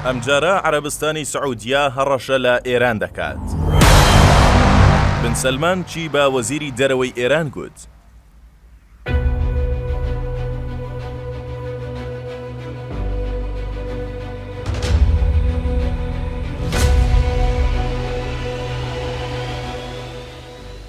ئەمجارە عەرەبستانی سعودیە هەڕەشە لە ئێران دەکات. بن سەلمان چی بە وەزیری دەرەوەی ئێران گوت؟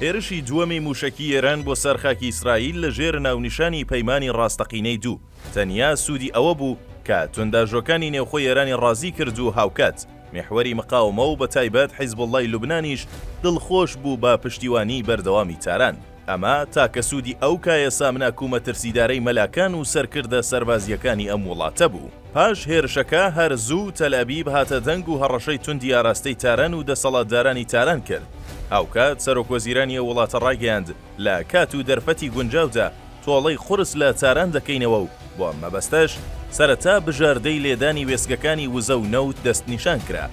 هێرشی دووەمی مووشەکی ئێران بۆ سەر خاکی ئیسرائیل لەژێر ناونیشانی پەیمانی ڕاستەقینەی دوو. تەنیا سوودی ئەوە بوو کە توندئاژۆکانی نێوخۆی ئێرانی ڕازی کرد و هاوکات میحوەری مقاومە و بە تایبەت حیزبوڵڵای لوبنانیش دڵخۆش بوو بە پشتیوانیی بەردەوامی تاران. ئەمە تاکە سوودی ئەو کایە سامناک و مەترسیدارەی مەلاکان و سەرکردە سەربازییەکانی ئەم وڵاتە بوو. پاش هێرشەکە، هەر زوو تەلئەبیب هاتە دەنگ و هەڕەشەی توندی ئاراستەی تاران و دەسەڵاتدارانی تاران کرد. هاوکات سەرۆکوەزیرانی ئەو وڵاتە ڕایگەیاند، لە کات و دەرفەتی گونجاودا، تۆڵەی قورس لە تاران دەکەینەوە و بۆ ئەم مەبەستەش سەرەتا بژاردەی لێدانی وێستگەکانی وزە و نەوت دەستنیشان کرا،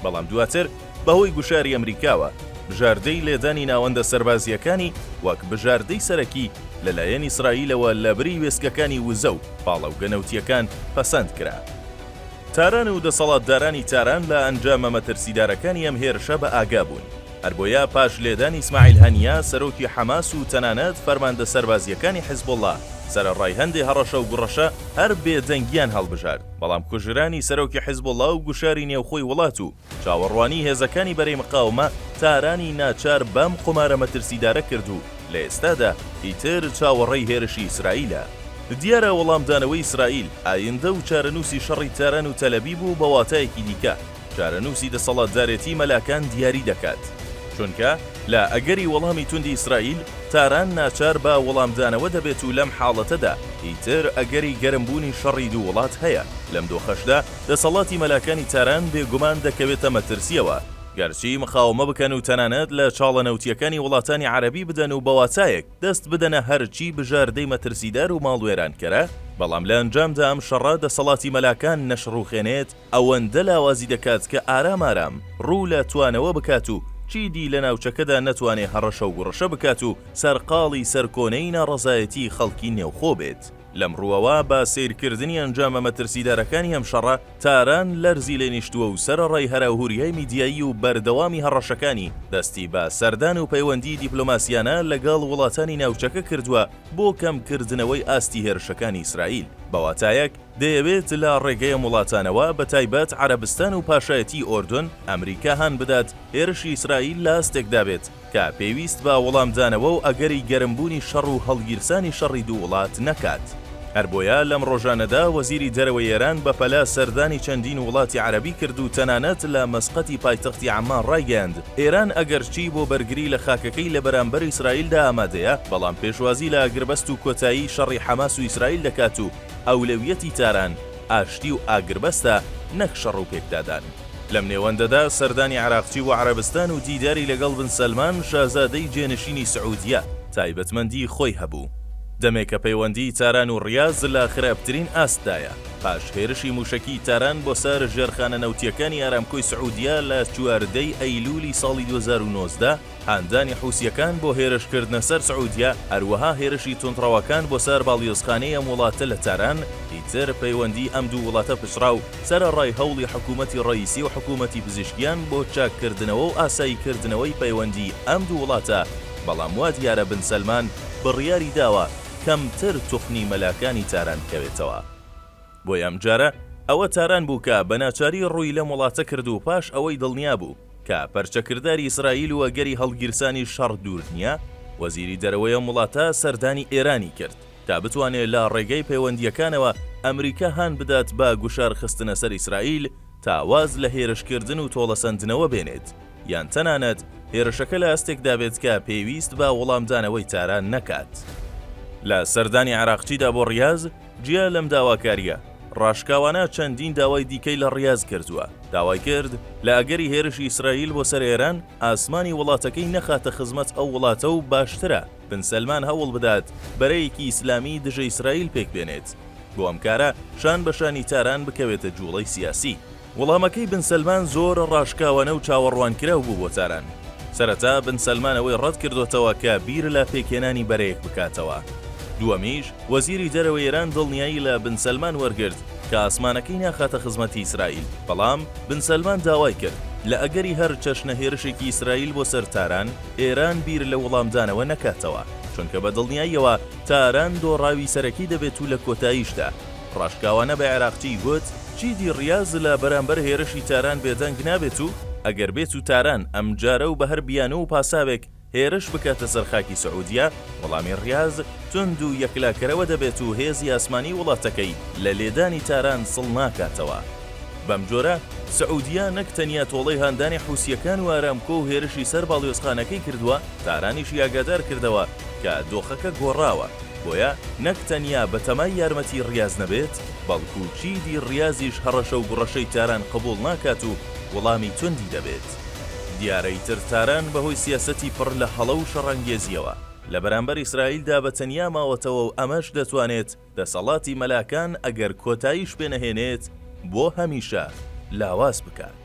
بەڵام دواتر بەهۆی گوشاری ئەمریکاوە بژاردەی لێدانی ناوەندە سەربازییەکانی وەک بژاردەی سەرەکی لەلایەن ئیسرائیلەوە لەبری وێستگەکانی وزە و پاڵەوگە نەوتییەکان پەسەند کرا. تاران و دەسەڵاتدارانی تاران لە ئەنجامە مەترسیدارەکانی ئەم هێرشە بەئاگا بوون. هەربۆیە پاش لێدانی ئیسماعیل هەنیە سەرۆکی حەماس و تەنانەت فەرماندە سەربازییەکانی حزبوڵڵا سەرەڕای هەندێ هەڕەشە و گوڕەشە هەر بێدەنگییان هەڵبژارد بەڵام کوژرانی سەرۆکی حزبوڵڵا و گوشاری نێوخۆی وڵات و چاوەڕوانی هێزەکانی بەرەی مقاومە تارانی ناچار بەم قومارە مەترسیدارە کرد و لە ئێستادا ئیتر چاوەڕێی هێرشی ئیسرائیلە. دیارە وەڵامدانەوەی ئیسرائیل ئایندە و چارەنووسی شەڕی تاران و تەلەبیب و بە واتایەکی دیکە، چارەنووسی دەسەڵاتدارێتی مەلاکان دیاری دەکات، چونکە لە ئەگەری وەڵامی توندی ئیسرائیل، تاران ناچار بە وەڵامدانەوە دەبێت و لەم حاڵەتەدا ئیتر ئەگەری گەرمبوونی شەڕی دوو وڵات هەیە، لەم دۆخەشدا دەسەڵاتی مەلاکانی تاران بێگومان دەکەوێتە مەترسییەوە، گەرچی مقاومە بکەن و تەنانەت لە چاڵە نەوتییەکانی وڵاتانی عەرەبی بدەن و بە واتایەک دەست بدەنە هەرچی بژاردەی مەترسیدار و ماڵوێرانکەرە، بەڵام لە ئەنجامدا ئەم شەڕە دەسەڵاتی مەلاکان نەشڕووخێنێت، ئەوەندە لاوازی دەکات کە ئارام ئارام ڕوو لە توانەوە بکات و چیدی لە ناوچەکەدا نەتوانێ هەڕەشە و گوڕەشە بکات و سەرقاڵی سەرکۆنەی ناڕەزایەتیی خەڵکی نێوخۆ بێت. لەم ڕووەوە بە سەیرکردنی ئەنجامە مەترسیدارەکانی ئەم شەڕە، تاران لەرزی لێ نیشتووە و سەرەڕای هەراوهوریای میدیایی و بەردەوامی هەڕەشەکانی، دەستی بە سەردان و پەیوەندیی دیپلۆماسییانە لەگەڵ وڵاتانی ناوچەکە کردووە بۆ کەمکردنەوەی ئاستی هێرشەکانی ئیسرائیل. بە واتایەک، دەیەوێت لە ڕێگەیەم وڵاتانەوە بە تایبەت عەرەبستان و پاشایەتیی ئۆردن ئەمریکا هان بدات هێرشی ئیسرائیل لە ئاستێکدا بێت کە پێویست بە وڵامدانەوە و ئەگەری گەرمبوونی شەڕ و هەڵگیرسانی شەڕی دوو وڵات نەکات. هەر بۆیە لەم ڕۆژانەدا وەزیری دەرەوەی ئێران بەپەلە سەردانی چەندین وڵاتی عەرەبی کرد و تەنانەت لە مەسقەتی پایتەختی عەممان ڕایگەیاند ئێران ئەگەرچی بۆ بەرگری لە خاکەکەی لە بەرامبەر ئیسرائیلدا ئامادەیە بەڵام پێشوازی لە ئاگربەست و کۆتایی شەڕی حەماس و ئیسرائیل دەکات و ئەولەویەتی تاران ئاشتی و ئاگربەستە نەک شەڕ و پێکدادان. لەم نێوەندەدا سەردانی عراقچی بۆ عەرەبستان و دیداری لەگەڵ بن سەلمان شازادەی جێنشینی سعودیە تایبەتمەندی خۆی هەبوو. دەمێکە پەیوەندیی تاران و ڕیاز لە خراپترین ئاستدایە، پاش هێرشی مووشەکیی تاران بۆ سەر ژێرخانە نەوتییەکانی ئارامکۆی سعودیە لە چواردە ی ئەیلوولی ساڵی دوو هەزار و نۆزدە، هاندانی حوسییەکان بۆ هێرشکردنە سەر سعودیە، هەروەها هێرشی توندڕەوەکان بۆ سەر باڵیۆزخانەی ئەم وڵاتە لە تاران، ئیتر پەیوەندیی ئەم دوو وڵاتە پچڕا و سەرەڕای هەوڵی حکوومەتی ڕەئیسی و حکوومەتی پزیشکیان بۆ چاککردنەوە و ئاساییکردنەوەی پەیوەندیی ئەم دوو وڵاتە، بەڵام وا دیارە بن سەلمان بڕیاری داوە کەمتر توخنی مەلاکانی تاران کەوێتەوە. بۆیە ئەمجارە ئەوە تاران بوو کە بە ناچاری ڕووی لەم وڵاتە کرد و پاش ئەوەی دڵنیا بوو کە پەرچەکرداری ئیسرائیل و ئەگەری هەڵگیرسانی شەڕ دوور نییە، وەزیری دەرەوەی ئەم وڵاتە سەردانی ئێرانی کرد تا بتوانێ لە ڕێگەی پەیوەندییەکانەوە ئەمریکا هان بدات بە گوشار خستنە سەر ئیسرائیل تا واز لە هێرشکردن و تۆڵەسەندنەوە بێنێت یان تەنانەت هێرشەکە لە ئاستێکدا بێت کە پێویست بە وڵامدانەوەی تاران نەکات. لە سەردانی عەراقچیدا بۆ ڕیاز، جیا لەم داواکارییە ڕاشکاوانە چەندین داوای دیکەی لە ڕیاز کردووە، داوای کرد لە ئەگەری هێرشی ئیسرائیل بۆ سەر ئێران ئاسمانی وڵاتەکەی نەخاتە خزمەت ئەو وڵاتە و باشترە بن سەلمان هەوڵ بدات بەرەیەکی ئیسلامی دژە ئیسرائیل پێکبێنێت بۆ ئەم کارە شان بە شانی تاران بکەوێتە جووڵەی سیاسی. وڵامەکەی بن سەلمان زۆر ڕاشکاوانە و چاوەڕوانکراو بوو بۆ تاران. سەرەتا بن سەلمان ئەوەی ڕەت کردۆتەوە کە بیر لە پێکهێنانی بەرەیەک بکاتەوە. دووەمیش، وەزیری دەرەوەی ئێران دڵنیایی لە بن سەلمان وەرگرت کە ئاسمانەکەی ناخاتە خزمەتی ئیسرائیل. بەڵام بن سەلمان داوای کرد لە ئەگەری هەر چەشنە هێرشێکی ئیسرائیل بۆ سەر تاران، ئێران بیر لە وڵامدانەوە نەکاتەوە، چونکە بە دڵنیاییەوە تاران دۆڕاوی سەرەکی دەبێت و لە کۆتاییشدا، ڕاشکاوانە بە عێراقچی گوت، چیدی ڕیاز لە بەرامبەر هێرشی تاران بێدەنگ نابێت و ئەگەر بێت و تاران ئەمجارە و بە هەر بیانوو و پاساوێک هێرش بکاتە سەر خاکی سعودیە، وەڵامی ڕیاز توند و یەکلاکەرەوە دەبێت و هێزی ئاسمانی وڵاتەکەی لە لێدانی تاران سڵ ناکاتەوە. بەمجۆرە سعودیە نەک تەنیا تۆڵەی هاندانی حوسییەکان و ئارامکۆ و هێرشی سەر باڵیۆزخانەکەی کردووە، تارانیشی ئاگادار کردەوە کە دۆخەکە گۆڕاوە، بۆیە نەک تەنیا بەتەمای یارمەتی ریاز نەبێت، بەڵکو چیدی ریازیش هەڕەشە و گوڕەشەی تاران قبوڵ ناکات و وڵامی توندی دەبێت. دیارە ئیتر تاران بەهۆی سیاسەتی پڕ لە هەڵە و شەڕانگێزییەوە لە بەرامبەر ئیسرائیلدا بە تەنیا ماوەتەوە و ئەمەش دەتوانێت دەسەڵاتی مەلاکان ئەگەر کۆتاییش پێنەهێنێت بۆ هەمیشە لاواز بکات.